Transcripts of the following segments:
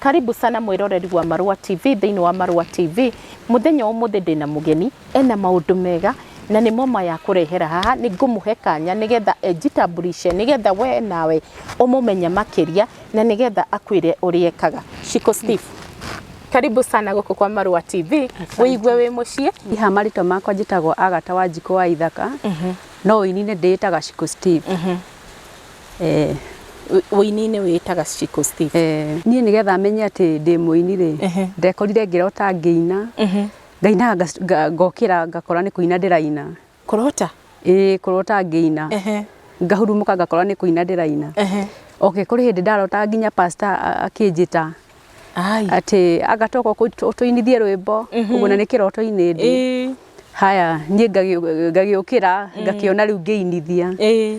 Karibu sana mwĩroreri wa Marũa TV thĩinĩ wa Marũa TV. Mũthenya wa ũmũthĩ ndĩna mũgeni ena maũndũ mega na nĩ moma ya kũrehera haha nĩ ngũmũhe kanya nĩgetha enjitambulishe nĩgetha we nawe ũmũmenye makĩria na nĩgetha akwĩre ũrĩa ekaga. Shiko Steve, karibu sana gũkũ kwa Marũa TV, wĩigue wĩ mũciĩ. Niĩ haha marĩtwa makwa njĩtagwo Agata Wanjikũ wa Ithaka, no ũini-inĩ ndĩĩtaga Shiko Steve. Eh. Ũini-inĩ wĩĩtaga Shiko Stick. Eh. Niĩ nĩgetha menye atĩ ndĩ mũini-rĩ, Ehe. ndekorire ngĩrota ngĩina, Ehe. ngainaga ngac- nga- ngokĩra ngakora nĩ kũina ndĩraina. Kũrota? Ĩĩ kũrota ngĩina. Ehe. Ngahurumũka ngakora nĩ kũina ndĩraina. Ehe. Okay, kũrĩ hĩndĩ ndarota nginya pastor a- akĩnjĩta Ai. atĩ anga toka ũkũ- ũtũinithie rwĩmbo, ũguo na nĩ kĩroto-inĩ ndĩ. Ĩĩ. Haya, niĩ ngagĩ- ngagĩũkĩra ngakĩona rĩu ngĩinithia. Ĩĩ.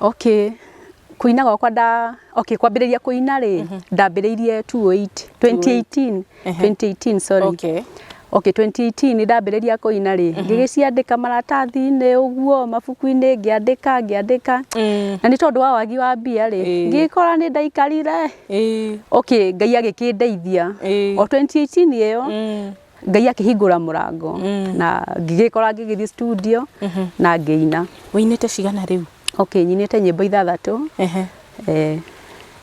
Okay, kũina gwakwa nda, okay kwambĩrĩria kũina rĩ, mhm. ndambĩrĩirie 2018, 2018, 2018 sorry. Okay. Okay, 2018 nĩ ndambĩrĩria kũina rĩ, mhm. ngĩgĩciandĩka maratathi-inĩ ũguo, mabuku-inĩ ngĩandĩka ngĩandĩka. Mm. Na nĩ tondũ wa wagi wa mbia rĩ, ngĩkora nĩ ndaikarire. Okay, Ngai agĩkĩndeithia. O 2018 ĩyo mm. ngai akĩhingũra mũrango mm. na ngĩgĩkora ngĩgĩthiĩ studio mm -hmm. na ngĩina ũinĩte cigana rĩu okay nyinĩte nyĩmbo ithathatũ uh -huh. eh,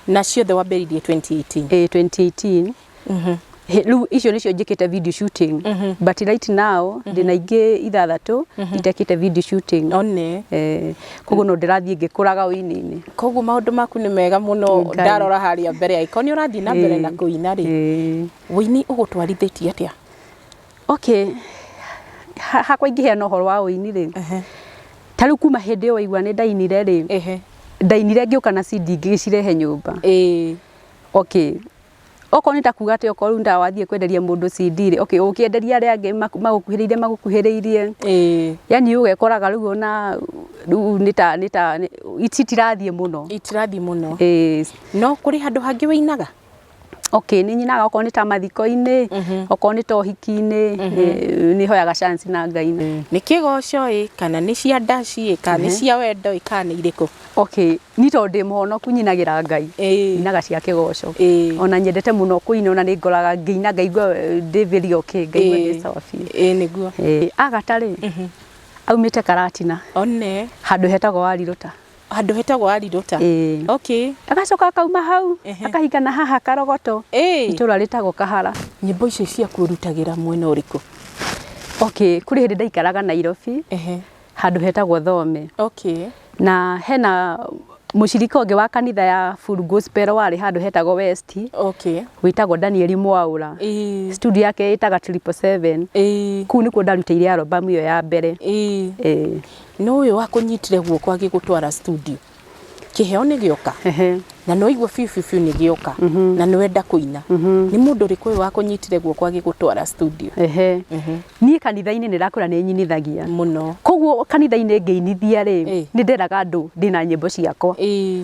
na ciothe wambĩrĩirie 2018 eh, 2018 mm -hmm riu icio nicio njikite video shooting mm -hmm. but right now mm -hmm. ndina ingi ithathatu mm -hmm. itekite video shooting one eh koguo no ndirathie ngikuraga uini-ini koguo maundu maku ni mega muno ndarora haria mbere ya ikoni urathie na mbere na kuina ri Wũini ũgũtwarithĩtie atĩa? Okay, ha- hakwa ingĩheana ũhoro wa wũini rĩ, Ehe, ta rĩu kuma hĩndĩ ĩyo waigua nĩ ndainire rĩ, ehe, ndainire ngĩũka na CD ngĩgĩcirehe nyũmba. ĩĩ, Okay. Okorwo nĩ ta kuga atĩ okorwo rĩu nĩ ta wathiĩ kwenderia mũndũ CD rĩ, okay, ũkĩenderia arĩa angĩ maku- magũkuhĩrĩirie magũkuhĩrĩirie, ĩĩ, yani ũgekoraga rĩu ona rĩu nĩ ta nĩ ta nĩ- citirathiĩ mũno. itirathiĩ mũno. Ĩĩ. No kũrĩ handũ hangĩ wĩinaga? Okay, nĩ nyinaga okorwo nĩ ta mathiko-inĩ, okorwo nĩ ta ũhiki-inĩ, nĩ- nĩ hoyaga chance na Ngai. nĩ kĩgoco ĩ kana nĩ cia ndaci ĩ kana nĩ cia wendo ĩ kana nĩ irĩkũ Okay, niĩ tondũ ndĩ mũhonoku nyinagĩra Ngai, Ĩĩ. nyinaga cia kĩgoco. Ĩĩ. Ona nyendete mũno kũina ona nĩ ngoraga ngĩina ngaigua eh, ndĩ very okay, ngaigua ndĩ sawa biũ. ĩ nĩguo Eh, Agatha-rĩ, aumĩte Karatina, one handũ hetagwo Warirũta. handå hetagwo arirota Ĩĩ. okay agacoka akauma hau Ehe. akahinga na haha karogoto Ĩĩ. itũra rĩtagwo kahara nyimbo icio ciaku urutagĩra mwena ũrĩkũ okay kũrĩ hĩndĩ ndaikaraga nairobi ehe handũ hetagwo thome okay na hena mũcirika ũngĩ wa kanitha ya full gospel warĩ handũ hetagwo west okay wĩtagwo danieli mwaũra Ĩĩ. studio yake ĩtaga triple seven Ĩĩ. kuu nĩkuo ndarutĩire albamu ĩyo ya mbere Ĩĩ. Ĩĩ. Nĩ ũyũ wakũnyitire guoko agĩgũtwara studio. Kĩheo nĩ gĩoka Ehe. na nĩ waigua biũ biũ biũ nĩ gĩoka na nĩ wenda kũina. Nĩ mũndũ ũrĩkũ ũyũ wakũnyitire guoko agĩgũtwara studio? Ehe. Niĩ kanitha-inĩ nĩ ndakũra nĩ nyinithagia. Mũno. Koguo kanitha-inĩ ngĩinithia rĩ, Ĩĩ. nĩ nderaga andũ ndĩna nyĩmbo ciakwa. Ĩĩ.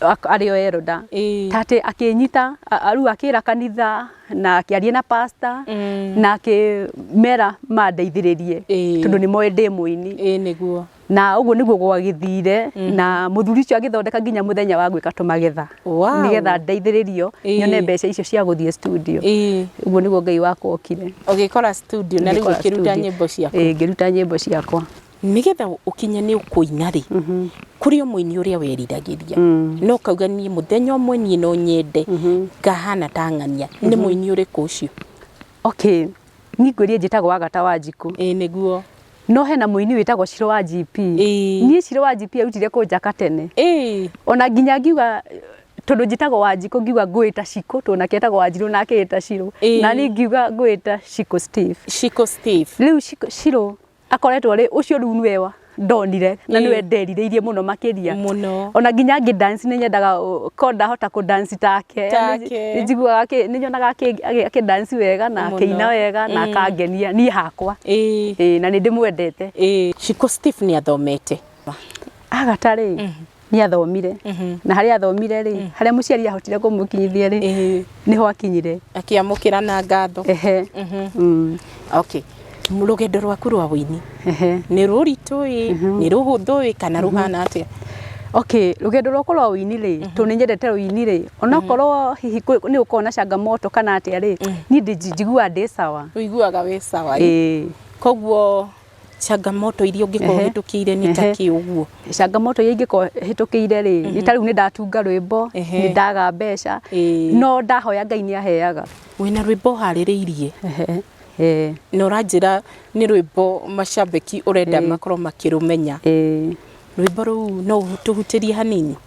arĩ o eroda tate akĩnyita rĩu akĩra kanitha na akĩaria na pasta na akĩmera mandeithĩrĩrie tondũ nĩ moĩ ndĩ mũini na ũguo nĩguo gwagĩthire na mũthuri ũcio agĩthondeka nginya mũthenya wa gwĩka tũmagetha nĩgetha ndeithĩrĩrio nyone mbeca icio cia gũthiĩ studio ũguo nĩguo Ngai wakwa okire ũgĩkora studio na rĩu ũkĩruta nyĩmbo ciaku ĩĩ ngĩruta nyĩmbo ciakwa. nĩgetha ũkinye nĩ ũkũina rĩ kũrĩ o mũini ũrĩa weriragĩria no kauga niĩ mũthenya ũmwe niĩ no nyende ngahana ta ng'ania nĩ mũini ũrĩkũ ũcio okay niĩ ngwĩrie njĩtagwo agata wa njikũ ĩĩ nĩguo no hena mũini wĩtagwo ciro wa gp Ĩĩ. niĩ ciro wa gp arutire kũnjaka tene ĩĩ ona nginya ngiuga tondũ njĩtagwo wa njikũ ngiuga ngwĩta cikũ tondũ nake etagwo wa njirũ nake eta cirũ Ĩĩ. na niĩ ngiuga ngwĩta cikũ steve ciko steve rĩu Cikũ- cirũ akoretwo rĩ ucio riu niwe wa ndonire na niwe nderirĩirie muno makiria muno ona nginya ngi dance ni nyendaga ko ndahota ku dance take take njiguaga ki ni nyonaga aki dance wega na akiina wega na akangenia ni hakwa eh na ni ndimwendete eh Shiko Steve ni athomete agatari nä athomire na harä athomire rä harä a må ciari ahotire kå må kinyithia rä Ĩhĩ. nä ho akinyire akiamũkĩra na ngatho ehe Mhm. Mm, okay rũgendo rwaku rwa wĩini ehe nĩ rũritũ ĩ nĩ rũhũthũ ĩ kana rũhana atĩa okay rũgendo rwakwa rwa ũini rĩ tondũ nĩ nyendete ũini rĩ onakorwo hihi kwĩ- nĩ gũkorwo na changamoto kana atĩa rĩ niĩ ndĩ- njiguaga ndĩ sawa ũiguaga wĩ sawa ĩ ĩĩ koguo Changamoto iria ũngĩkorwo ũhĩtũkĩire nĩ ta kĩ ũguo? Changamoto iria ingĩkorwo hĩtũkĩire rĩ, nĩ ta rĩu nĩ ndatunga rwĩmbo, nĩ ndaga mbeca, no ndahoya Ngai nĩ aheaga. Wĩna rwĩmbo ũharĩrĩirie? Na ũranjĩra nĩ rwĩmbo macambĩki ũrenda makorwo makĩrũmenya. Rwĩmbo rũu no ũtũhutĩrie hanini?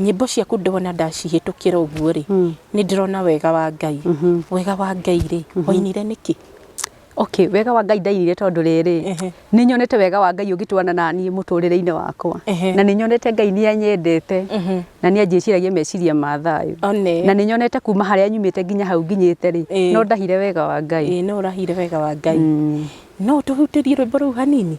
Nyĩmbo ciaku ndona ndacihĩtũkĩra ũguo rĩ, nĩ ndĩrona wega wa Ngai. Wega wa Ngai rĩ, wainire nĩkĩ? Okay, wega wa Ngai ndainire tondũ rĩrĩ, nĩ nyonete wega wa Ngai ũgĩtwarana na niĩ mũtũrĩre-inĩ wakwa. Na nĩ nyonete Ngai nĩ anyendete, na nĩ anjĩciragia meciria ma thayũ. Na nĩ nyonete kuma harĩa nyumĩte nginya hau nginyĩte rĩ, no ndahire wega wa Ngai. Ĩĩ no ũrahire wega wa Ngai. No ũtũhutĩrie rwĩmbo rũu hanini?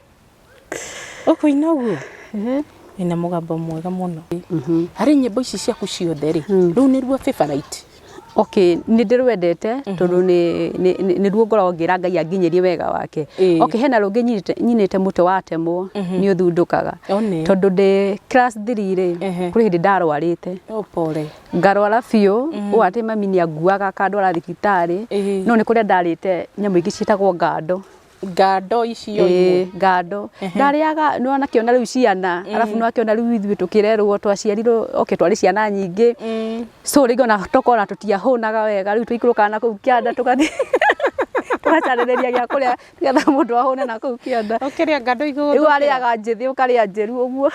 ũkũina ũguo ina mũgambo mwega mũno harĩ nyĩmbo ici ciaku ciothe rĩ rĩu nĩruo favorite okay nĩ ndĩrwendete tondũ nĩ- nĩ- nĩ- nĩruo ngoragwo ngĩra ngai anginyĩrie wega wake Ĩĩ. okay hena rũngĩ nyinĩte- nyinĩte mũtwe watemwo nĩ ũthundũkaga One. tondũ ndĩ class 3 rĩ Ehe. kũrĩ hĩndĩ ndarwarĩte oh pole ngarwara biũ ũũ atĩ mami nĩ anguaga akandwara thibitarĩ Ĩĩ. no nĩ kũrĩa ndarĩte nyamũ ingĩ ciĩtagwo ngando ngando icio imwe. Ĩĩ, ngando ndarĩaga nĩ wona akĩona rĩu ciana arabu nĩ akĩona rĩu ithuĩ tũkĩrerwo twaciarirwo okay twarĩ ciana nyingĩ so rĩngĩ ona tokorwo ona tũtiahũnaga wega rĩu tũikũrũkaga na kũu kĩanda tũgathiĩ tũgacarĩrĩria gĩa kũrĩa nĩgetha mũndũ ahũne na kũu kĩanda Ũkĩrĩa ngando igũrũ. rĩu arĩaga njĩthĩ ũkarĩa njĩru ũguo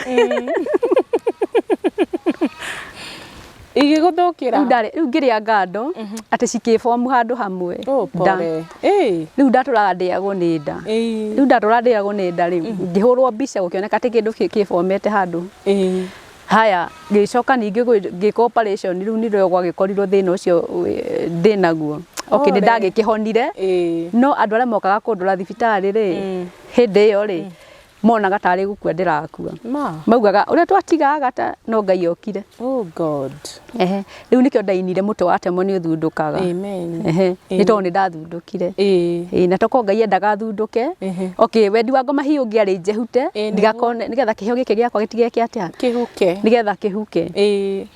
igĩgũthũkĩra rĩu ndarĩ rĩu ngĩrĩa ngando atĩ cikĩbomu handũ hamwe Oh, nda pole. Ĩĩ, rĩu ndatũraga ndĩagwo nĩ nda ĩĩ, rĩu ndatũra ndĩagwo nĩ nda rĩu ngĩhũrwo mbica gũkĩoneka atĩ kĩndũ kĩ- kĩbomete handũ ĩĩ. haya ngĩcoka ningĩ gwĩ- ngĩka operation rĩu nĩrĩo gwagĩkorirwo thĩna ũcio eh, ndĩ naguo okay nĩ Ore. ndagĩkĩhonire Ĩĩ. no andũ arĩa mokaga kũndora thibitarĩ rĩ hĩndĩ ĩyo rĩ monaga tarĩ gũkua ndĩrakua Ma. maugaga ũrĩa twatiga agata no ngai okire Oh God. ehe rĩu nĩkĩo ndainire mũtwe wa temwo nĩ ũthundũkaga Amen. ehe nĩ tondũ nĩ ndathundũkire Eh. Ĩĩ, na toko ngai endaga thundũke Ehe. okay wendi wa ngoma hihi ũngĩarĩ njehute Ĩĩ, nĩguo. ndigakone nĩgetha kĩheo gĩkĩ gĩakwa gĩtige kĩ atĩa Kĩhuke. nĩgetha kĩhuke Eh.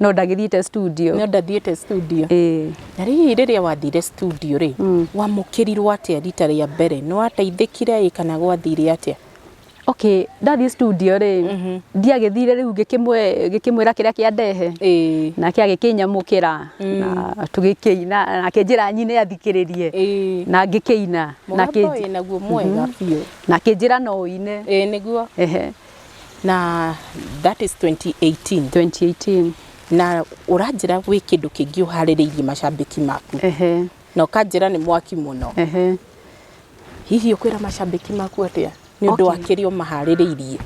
no ndagĩthiĩte studio no ndathiĩte studio ĩĩ na rĩrĩ rĩrĩa wathire studio rĩ Mm. wamũkĩrirwo atĩa rita rĩa mbere nĩ wateithĩkire ĩ kana gwathire atĩa okay ndathiĩ studio rĩ Mhm. ndiagĩthire rĩu ngĩkĩmwe- ngĩkĩmwĩra kĩrĩa kĩa ndehe ĩĩ nake agĩkĩnyamũkĩra na tũgĩkĩina na akĩnjĩra nyine athikĩrĩrie ĩĩ na ngĩkĩina na mũgambo akĩ- wĩ naguo mwega biũ na akĩnjĩra no ũine ĩĩ nĩguo ehe na that is 2018 2018 na ũranjĩra gwĩ kĩndũ kĩngĩ ũharĩrĩirie macambĩki maku ehe na ũkanjĩra nĩ mwaki mũno ehe hihi ũkwĩra macambĩki maku atĩa nĩ ũndũ wa Okay. kĩrĩa ũmaharĩrĩirie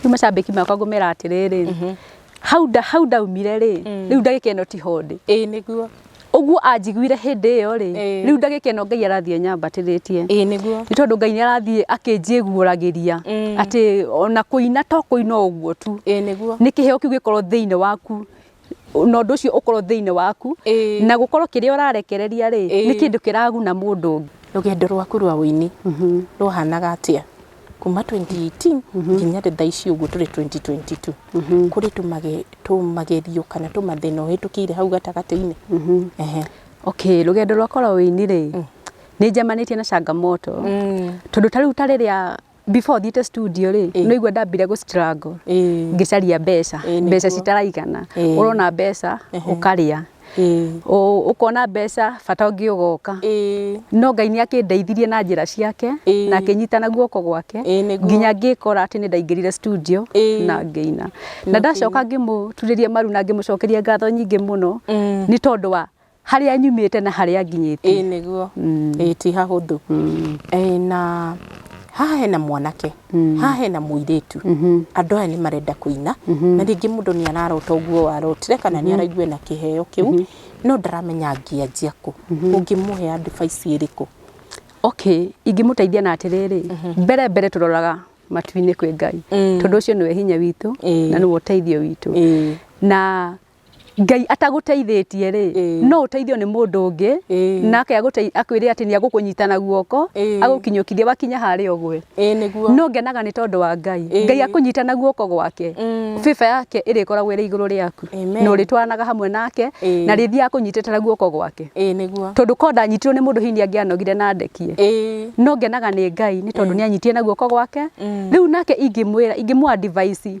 rĩu macambĩki makwa ngũmera atĩrĩrĩ hau nda hau ndaumire rĩ mm. rĩu ndagĩka ĩno ti hondĩ ĩĩ nĩguo ũguo anjiguire hĩndĩ ĩyo rĩ rĩu ndagĩka ĩno ngai arathiĩ anyambatĩrĩtie nĩ tondũ ngai nĩ arathiĩ akĩnjĩguũragĩria mm. atĩ ona kũina to kũina ũguo tu nĩ kĩheo kĩu gĩkorwo thĩinĩ waku na ũndũ ũcio ũkorwo thĩinĩ waku na gũkorwo kĩrĩa ũrarekereria rĩ nĩ kĩndũ kĩraguna mũndũ ũngĩ rũgendo rwaku rwa ũini mhm. rwahanaga atĩa kuma 2018 nginya rĩ thaa ici ũguo tũrĩ 2022 kũrĩ tũmage- tũmagerio kana tũmathĩna ũhĩtũkĩire hau gatagatĩ-inĩ Ehe. okay rũgendo rwakwa rwa ũini rĩ nĩ njemanĩtie na changamoto tondũ ta rĩu ta rĩrĩa before thiĩte studio rĩ Ĩĩ. nĩigua ndambire gũ struggle Ĩĩ. ngĩcaria mbeca Ĩĩ, nĩguo. mbeca citaraigana Ĩĩ. ũrona mbeca Ehe. ũkarĩa ũkona mbeca bata ũngĩ ũgoka no ngai nĩ akĩndeithirie na njĩra ciake na akĩnyitana guoko gwake nginya ngĩkora atĩ nĩ ndaingĩrire studio na ngĩina na ndacoka ngĩmũturĩria maru na ngĩmũcokeria ngatho nyingĩ mũno nĩ tondũ wa harĩa nyumĩte na harĩa nginyĩte ĩĩ nĩguo ĩĩ ti hahũthũ na haha hena mwanake haha hena mũirĩtu, andũ aya nĩ marenda kũina, na rĩngĩ mũndũ nĩ ararota ũguo warotire kana nĩ araigua ena kĩheo kĩu, no ndaramenya angĩanjia kũ. Ũngĩmũhe advice ĩrĩkũ? Okay, ingĩmũteithia na atĩrĩrĩ, mbere mbere tũroraga matu-inĩ kwĩ Ngai, tondũ ũcio nĩwe hinya witũ na nĩwe ũteithio witũ. Na Ngai atagũteithĩtie-rĩ, Ĩĩ. no ũteithio nĩ mũndũ ũngĩ, Ĩĩ. nake agũtei- akwĩre atĩ nĩagũkũnyita na guoko, Ĩĩ. agũkinyũkithie wakinya harĩa ũgwe. Ĩĩ nĩguo. No ngenaga nĩ tondũ wa Ngai. Ĩĩ. Ngai akũnyita na guoko gwake, Mm. bĩba yake ĩrĩkoragwo ĩrĩ igũrũ rĩaku, Amen. na ũrĩtwaranaga hamwe nake, Ĩĩ. na rĩthiaga akũnyitĩte na guoko gwake. Ĩĩ nĩguo. Tondũ korwo ndanyitirwo nĩ mũndũ hihi nĩangĩanogire na ndekie. Ĩĩ. No ngenaga nĩ Ngai nĩ tondũ nĩanyitie na guoko gwake. Mm. Rĩu nake ingĩmwĩra, ingĩmũ advise,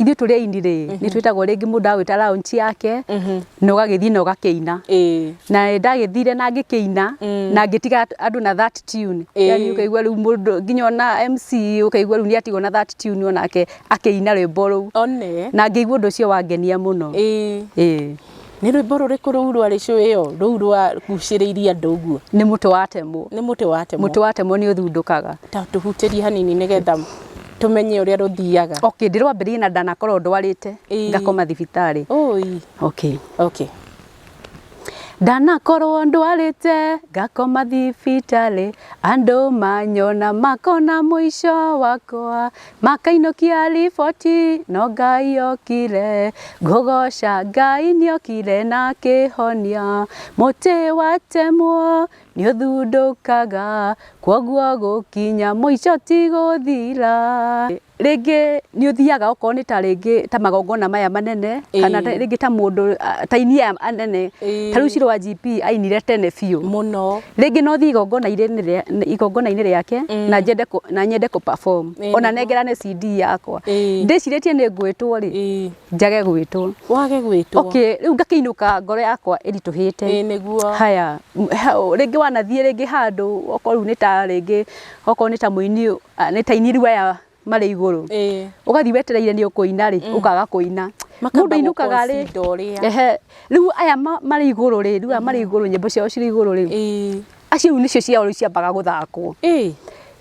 ithuĩ tũrĩ aini rĩ nĩ twĩtagwo rĩngĩ mũndũ agwĩta raunci yake na ũgagĩthiĩ na ũgakĩina Ĩĩ. na nĩ ndagĩthire na ngĩkĩina na ngĩtiga andũ na that tune Ĩĩ. yani ũkaigua rĩu mũndũ nginya ona MC ũkaigua rĩu nĩ atigwo na that tune onake akĩina rwĩmbo rũu one na ngĩigua ũndũ ũcio wangenia mũno Ĩĩ. Ĩĩ. Nĩ rwĩmbo rũrĩkũ rũu rwarĩ cũĩ ĩyo rũu rwagucĩrĩirie andũ ũguo? Nĩ mũtĩ wa temũ. Nĩ mũtĩ wa temũ. Mũtĩ wa temũ nĩ ũthundũkaga. Ta tũhutĩrie hanini nĩ getha tũmenye ũrĩa rũthiaga. Okay, ndĩrwambĩrĩrie na ndanakorwo ndwarĩte ngakoma thibitarĩ. Ũi. Okay. Okay. Ndanakorwo ndwarĩte ngakoma thibitarĩ, andũ manyona makona mũico wakwa. makainũkia riboti no ngai okire ngũgoca ngai nĩokire na akĩhonia mũtĩ watemwo nĩũthundũkaga kwoguo gũkinya mũico ti gũthira rĩngĩ nĩũthiaga okorwo nĩ ta rĩngĩ ta magongona maya manene kana Ĩĩ. rĩngĩ ta mũndũ ta aini aya anene ta rĩu Shirũ wa GP ainire tene biũ mũno rĩngĩ no thiĩ igongona-inĩ rĩa- igongona-inĩ rĩake Mm. na njende kũ- na nyende kũ perform Ĩĩ, ona nĩguo. nengerane CD yakwa Ĩĩ. ndĩcirĩtie nĩ ngwĩtwo rĩ Ĩĩ. njage gwĩtwo wage gwĩtwo okay rĩu ngakĩinũka ngoro yakwa Ĩĩ, ĩritũhĩte nĩguo haya m- ha- rĩngĩ wanathiĩ rĩngĩ handũ okorwo rĩu nĩ ta rĩngĩ okorwo nĩ ta mũini ah, nĩ ta ini riu aya marĩ igũrũ Eh. ũgathiĩ wetereire nĩ ũkũina rĩ ũkaga kũina Makamba mũndũ ainũkaga rĩ gũconda ũrĩa. ehe rĩu aya ma- marĩ igũrũ rĩ rĩu aya marĩ igũrũ nyĩmbo ciao cirĩ igũrũ rĩ Eh. acio rĩu nĩcio ciao rĩu ciambaga gũthakwo Eh.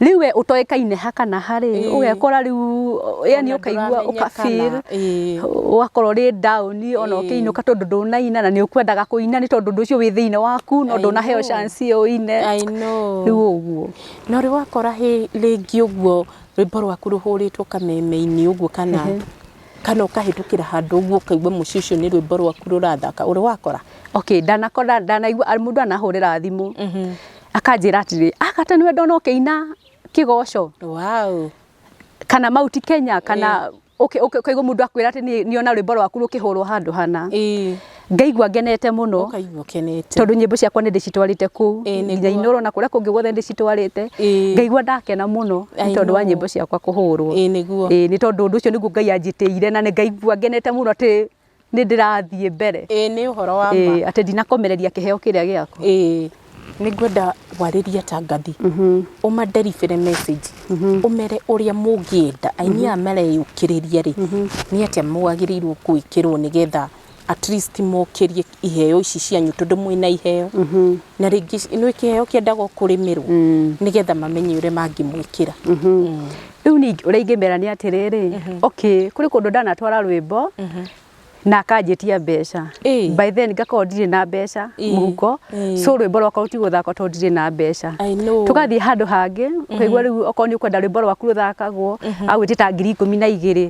rĩu we ũtoĩkaine ha kana harĩ Ĩĩ. ũgekora rĩu yani Ona ũkaigua ndũramenya ũkabir kana, ĩĩ. ũgakorwo rĩ down ona Ĩĩ. ũkĩinũka tondũ ndũnaina na nĩ ũkwendaga kũina nĩ tondũ ũndũ ũcio wĩ thĩinĩ waku no I ndũnaheo know. chance ũine I know. rĩu ũguo Na ũrĩ wakora hĩ rĩngĩ ũguo rwĩmbo rwaku rũhũrĩtwo kameme-inĩ ũguo kana kana ũkahĩtũkĩra handũ ũguo ũkaigua mũciĩ ũcio nĩ rwĩmbo rwaku rũrathaka, ũrĩ wakora? Okay, ndanakora ndanaigua mũndũ ndanahũrĩra thimũ akanjĩra atĩrĩrĩ, ah kata nĩwe ndona ũkĩina kĩgoco. Wow. kana mauti kenya kana ũkaigua eh. mũndũ akwĩra atĩ nĩ ona rwĩmbo rwaku rũkĩhũrwo handũ hana eh. ngaigua ngenete mũno tondũ nyĩmbo ciakwa nĩ ndĩcitwarĩte kũu eh, nginya inũrwo na kũrĩa kũngĩ guothe ndĩcitwarĩte ngaigua ndakena mũno nĩ tondũ wa nyĩmbo ciakwa kũhũrwo nĩ tondũ ũndũ ũcio nĩguo ngai anjĩtĩire na nĩ ngaigua ngenete mũno atĩ nĩ ndĩrathiĩ mbere ĩĩ nĩ ũhoro wa ma Ĩĩ, atĩ ndinakomereria kĩheo kĩrĩa gĩakwa ĩĩ nĩ ngwenda warĩria tangathi ũmanderibĩre message ũmere ũrĩa mũngĩenda aini aya mareyũkĩrĩria rĩ nĩ atĩa mwagĩrĩirwo gwĩkĩrwo nĩgetha at least mokĩrie iheo ici cianyu tondũ mwĩna iheo na rĩngĩ nĩ kĩheo kĩendagwo kũrĩmĩrwo nĩgetha mamenye ũrĩa mangĩmwĩkĩra rĩu ningĩ ũrĩa ingĩmera nĩ atĩrĩrĩ okay kũrĩ kũndũ ndanatwara rwĩmbo na akanjĩtia mbeca Ĩĩ. by then ngakorwo ndirĩ na mbeca Ĩĩ. mũhuko Ĩĩ. so rwĩmbo rwakwa rũtigũthakwo tondũ ndirĩ na mbeca I know. tũgathiĩ handũ hangĩ ũkaigua rĩu okorwo nĩ ũkwenda rwĩmbo rwaku rũthakagwo agwĩtĩta ngiri ikũmi na igĩrĩ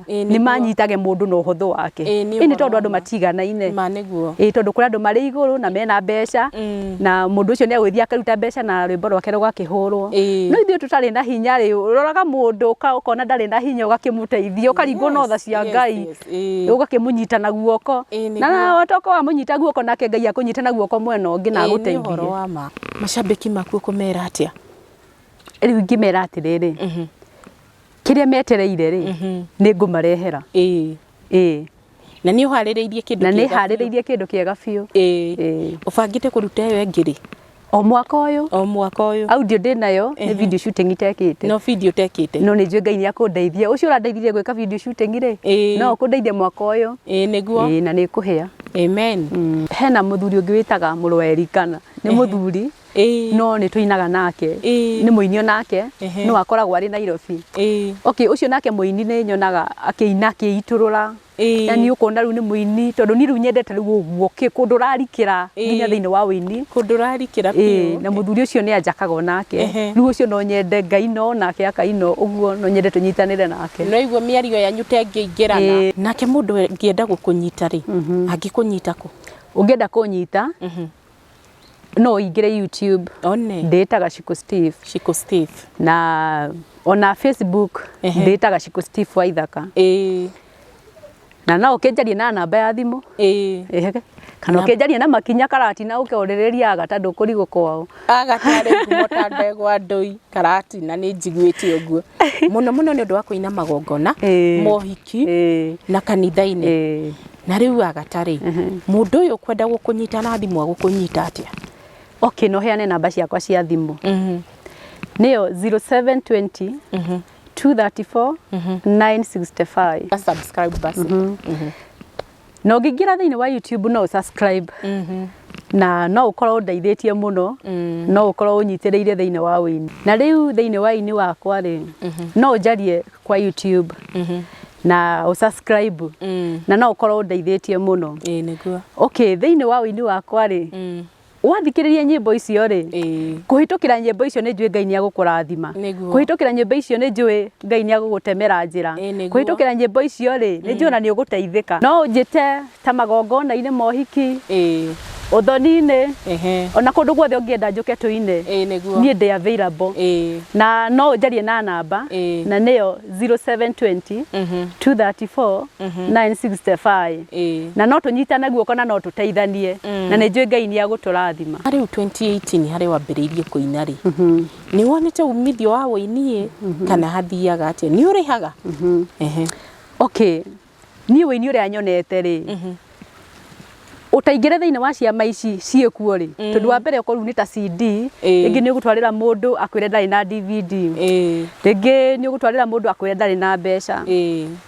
Ĩĩ, nĩ nĩ manyitage mũndũ na ũhũthũ wake Ĩĩ, nĩ ĩĩ nĩ ũhoro tondũ wa andũ ma. matiganaine ma nĩguo ĩĩ tondũ kũrĩ andũ marĩ igũrũ na mena mbeca Mm. na mũndũ ũcio nĩ egũthiĩ akaruta mbeca na rwĩmbo rwake rũgakĩhũrwo Ĩĩ. no ithuĩ tũtarĩ na hinya rĩ ũroraga mũndũ ũka- ũkona ndarĩ na hinya ũgakĩmũteithia ũkaringwo na tha cia yes, ngai yes, ĩĩ. ũgakĩmũnyita na guoko Ĩĩ, nĩ na watoka wamũnyita guoko nake ngai akũnyite na guoko mwena ũngĩ na Ĩĩ, nĩ ũhoro agũteithie wa ma macambĩki maku ũkũmera atĩa rĩu ingĩmera atĩrĩrĩ kĩrĩa metereire rĩ nĩ ngũmarehera ĩĩ ĩĩ na nĩ ũharĩrĩirie kĩndũ na nĩ kĩega. harĩrĩirie kĩndũ kĩega biũ ĩĩ Ĩĩ. ũbangĩte kũruta ĩyo ĩngĩ rĩ o mwaka ũyũ o mwaka ũyũ audio ndĩ nayo nĩ Ehe. video shooting itekĩte no video tekĩte no nĩ njũĩ ngai nĩ akũndeithia ũcio ũrandeithirie gwĩka video shooting rĩ Ĩĩ. no ũkũndeithia mwaka ũyũ ĩĩ nĩguo Ĩĩ, na nĩ kũhĩa amen hena mũthuri ũngĩ wĩtaga mũrũ wa Erikana nĩ mũthuri Ĩĩ. no nĩ tũinaga nake Ĩĩ. nĩ mũini onake Ehe. no akoragwo arĩ Nairobi Ĩĩ. okay ũcio nake mũini nĩ nyonaga akĩina akĩitũrũra Ĩĩ. yani ũkona rĩu nĩ mũini tondũ niĩ rĩu nyendete rĩu ũguo kĩ- kũndũ ũrarikĩra Ĩĩ. nginya thĩinĩ wa ũini kũndũ ũrarikĩra Ĩĩ, biũ na mũthuri ũcio nĩ anjakaga onake Ehe. rĩu ũcio no nyende ngaina onake akaina ũguo no nyende tũnyitanĩre nake no iguo mĩario yanyu ta ĩngĩingĩrana Ĩĩ. nake mũndũ ngĩenda gũkũnyita rĩ angĩkũnyita kũ ũngĩenda kũnyita no ũingĩre YouTube one ndĩta Gacikũ Steve Shiko Steve na ona Facebook Ehe. ndĩta Gacikũ Steve wa ithaka ĩĩ na no ũkĩnjarie na namba ya thimũ ĩĩ Ehe. kana ũkĩnjarie na makinya karati na ũke ũrĩrĩria aga tondũ kũrigũ kwao agatarĩ ngumo ta ndegwa ndũi karati na nĩ njiguĩte ũguo mũno mũno nĩ ũndũ wa kũina magongona Ĩĩ. mohiki ki na kanitha-inĩ na rĩu agatarĩ mũndũ ũyũ kwenda gũkũnyita na thimũ agũkũnyita atĩa okay no heane namba ciakwa cia thimũ nĩyo 0720 234 965 subscribe basi na ũngĩingĩra thĩinĩ wa YouTube no subscribe na no ũkorwo ũndeithĩtie mũno no ũkorwo ũnyitĩrĩire thĩinĩ wa ũini na rĩu thĩinĩ wa ini wakwa rĩ no ũnjarie kwa YouTube na ũsubscribe na no ũkorwo ũndeithĩtie mũno Ĩĩ nĩguo. okay thĩinĩ wa ũini wakwa rĩ wathikĩrĩria nyĩmbo icio rĩ kũhĩtũkĩra nyĩmbo icio nĩ njũĩ ngai nĩ agũkũrathima kũhĩtũkĩra nyĩmbo icio nĩ njũĩ ngai nĩ agũgũtemera njĩra kũhĩtũkĩra nyĩmbo icio rĩ nĩ njũĩ na nĩ ũgũteithĩka no ũnjĩte ta magongona-inĩ mohiki ũthoni-inĩ ona kũndũ guothe ũngĩenda njũke tũine niĩ ndĩ available na no ũnjarie na namba na nĩyo 0720 234 965 Ĩĩ. na no tũnyitane guoko na no tũteithanie na nĩ njũĩ Ngai nĩ agũtũrathima. Rĩu 2018 harĩa wambĩrĩirie kũina rĩ, nĩ wonete umithio wa ũini ĩ kana hathiaga atĩa? Nĩ ũrĩhaga? Ehe. Okay, niĩ ũini ũrĩa nyonete rĩ, ũtaingĩre thĩinĩ wa ciama ici ciĩ kuo rĩ, tondũ wa mbere okorwo rĩu nĩ ta CD, Ĩĩ. rĩngĩ nĩ ũgũtwarĩra mũndũ akwĩre ndarĩ na DVD, Ĩĩ. rĩngĩ nĩ ũgũtwarĩra mũndũ akwĩre ndarĩ na mbeca, Ĩĩ.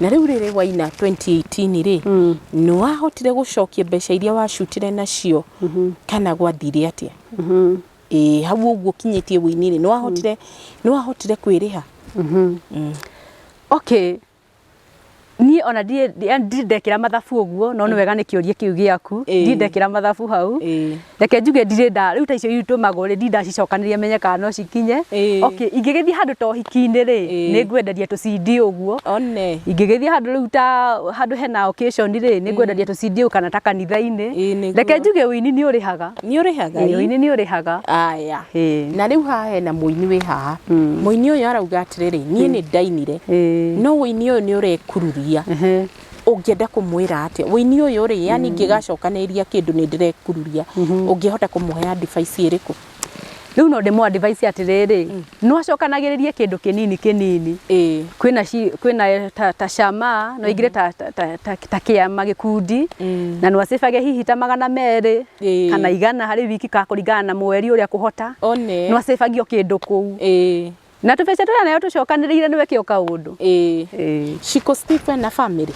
Na rĩu rĩrĩ waina 2018 rĩ mm. nĩ wahotire gũcokia mbeca iria wacutire nacio mm -hmm. kana gwathire atia mm -hmm. e, hau ũguo kinyĩtie wĩinĩ rĩ nĩ wahotire mm. nĩ wahotire kwĩrĩha mm -hmm. mm. okay niä ona ndindekera mathabu å guo no nä wega nä kä å ria kä u gä aku ndindekera mathabu hau reke njuge ndirĩ nda rĩu ta icio itũmagwo rĩ ndirĩ ndacicokanĩrĩria menye kana no cikinye Ĩĩ. okay ingĩgĩthiĩ handũ ta ũhiki-inĩ rĩ Ĩĩ. nĩ ngwendaria tũcindi ũguo one ingĩgĩthiĩ handũ rĩu ta handũ hena occasion rĩ nĩ ngwendaria tũcindi ũguo kana ta Ĩĩ, kanitha-inĩ nĩguo. reke njuge ũini nĩ ũrĩhaga nĩ ũrĩhaga Ĩĩ, ii? ũini nĩ ũrĩhaga aya Ĩĩ. na rĩu haha hena mũini wĩ haha Mm. mũini ũyũ arauga atĩrĩrĩ niĩ nĩ ndainire Ĩĩ. no ũini ũyũ nĩ ũrekururia Ehe. ũngĩenda kũmwĩra atĩa wĩini ũyũ rĩ yani ingĩgacokanĩrĩria kĩndũ nĩ ndĩrekururia ũngĩhota kũmũhe advice ĩrĩkũ rĩu no ndĩmũ advice atĩrĩrĩ no acokanagĩrĩrie kĩndũ kĩnini kĩnini ĩĩ kwĩna ci- kwĩna ta, ta cama no ingire ta, ta, ta, ta, ta kĩama gĩkundi na no acĩbage hihi ta magana merĩ Ĩĩ. kana igana harĩ wiki ka kũringana na mweri ũrĩa kũhota one no acĩbagio kĩndũ kũu ĩĩ Na tũbeca tũrĩa nayo tũcokanĩrĩire nĩwe kĩo kaũndũ. Ĩĩ. Ĩĩ. Ciko Steve na family.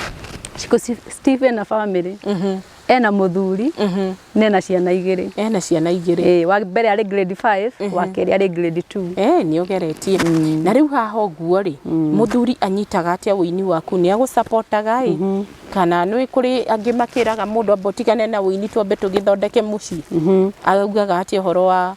Ciko Steve na family. Mhm. Ena mũthuri. Mhm. Na ena ciana igĩrĩ. Ena ciana igĩrĩ. Ĩĩ, wa mbere arĩ grade 5, mhm. wa kerĩ arĩ grade 2. Ĩĩ, nĩ ũgeretie. Mm. Na rĩu haha ũguo rĩ, mm. mũthuri anyitaga atĩa ũini waku nĩ agũcapotaga ĩ? Mhm. Kana nĩ kũrĩ angĩ makĩraga mũndũ amba ũtigane na ũini twambe tũgĩthondeke mũciĩ. Augaga atĩa ũhoro wa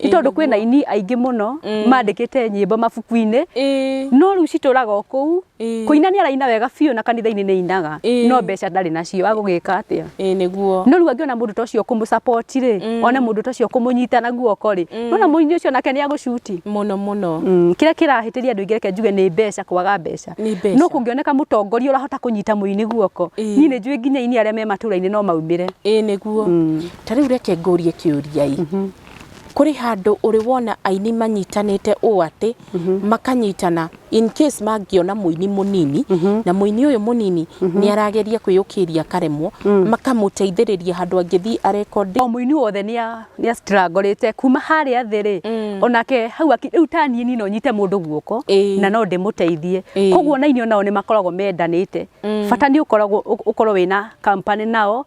nĩ tondũ kwĩ na ini aingĩ mũno mandĩkĩte nyĩmbo mabuku-inĩ Ĩĩ. no rĩu citũraga o kũu Ĩĩ. kũina nĩ araina wega biũ na kanitha-inĩ nĩ ainaga Ĩĩ. no mbeca ndarĩ nacio agũgĩka atĩa Ĩĩ nĩguo no rĩu angĩona mũndũ ta ũcio kũmũcapoti rĩ one mũndũ ta ũcio kũmũnyita na guoko rĩ nona mũini ũcio nake nĩ agũcuti mũno mũno Mm, kĩrĩa kĩrahĩtĩria andũ aingĩ reke njuge nĩ mbeca kwaga mbeca Nĩ mbeca. no kũngĩoneka mũtongoria ũrahota kũnyita mũini guoko Ĩĩ. niĩ nĩ njũĩ nginya ini arĩa me matũra-inĩ no maumĩre Ĩĩ nĩguo Ta rĩu reke ngũrie kĩũria-ĩ, kũrĩ handũ ũrĩ wona aini manyitanĩte ũũ atĩ makanyitana in case mangĩona mũini mũnini na mũini ũyũ mũnini nĩ arageria kwĩyũkĩrĩria akaremwo, makamũteithĩrĩria handũ angĩthiĩ a record. O mũini wothe nĩ a struggle ĩte kuma harĩa thĩ rĩ, onake hau akĩ, rĩu ta niĩ no nyite mũndũ guoko na no ndĩmũteithie. Koguo ona aini onao nĩ makoragwo mendanĩte, bata nĩ ũkoragwo, ũkorwo wĩna company nao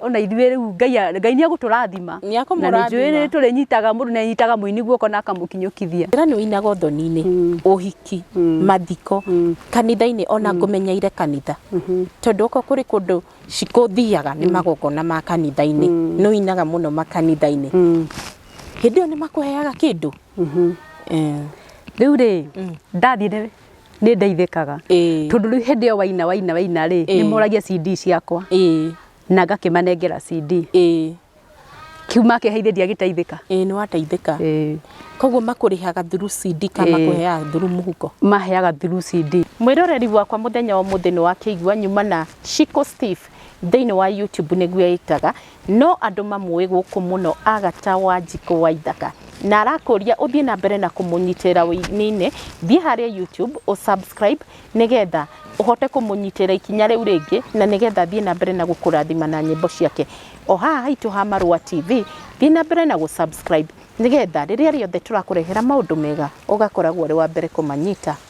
ona ithuĩ rĩu ngai a- ngai nĩ egũtũrathima Nĩ akũmũrathima. na nĩ njũĩ nĩ tũrĩnyitaga mũndũ nĩ anyitaga mũini guoko na akamũkinyũkithia Njĩra nĩ ũinaga ũthoni-inĩ, Mm. ũhiki, Mm. mathiko, Mm. kanitha-inĩ ona ngũmenyeire kanitha. Tondũ oko kũrĩ kũndũ cikũthiaga nĩ magongona ma kanitha-inĩ. Nĩ ũinaga mũno makanitha-inĩ. Mm. Hĩndĩ ĩyo nĩ makũheaga kĩndũ. Mhm. Eh. rĩu rĩ ndathiĩ nĩ- nĩ ndeithĩkaga Ĩĩ. tondũ rĩu hĩndĩ ĩyo waina waina waina rĩ Ĩĩ. nĩ moragia CD ciakwa ĩĩ na ngakĩmanengera CD ĩĩ kĩu makĩheithĩria gĩteithĩka ĩĩ nĩ wateithĩka Ĩĩ. koguo makũrĩhaga through CD kana Ĩĩ. makũheaga through mũhuko maheaga through CD mwĩroreri wakwa mũthenya wa ũmũthĩ nĩ wakĩigua nyuma na Chico Steve thĩinĩ wa YouTube nĩguo ĩtaga No andũ mamũĩ gũkũ mũno Agata Wanjikũ Waithaka na arakũria ũthiĩ na mbere na kũmũnyitĩrĩra ũininĩ, thiĩ harĩa YouTube ũ subscribe nĩgetha ũhote kũmũnyitĩrĩra ikinya rĩu rĩngĩ na nĩgetha athiĩ na mbere na gũkũrathima na nyĩmbo ciake. O haha haitũ ha Marũa TV, thiĩ na mbere na gũ subscribe nĩgetha rĩrĩa rĩothe tũrakũrehera maũndũ mega ũgakoragwo ũrĩ wa mbere kũmanyita.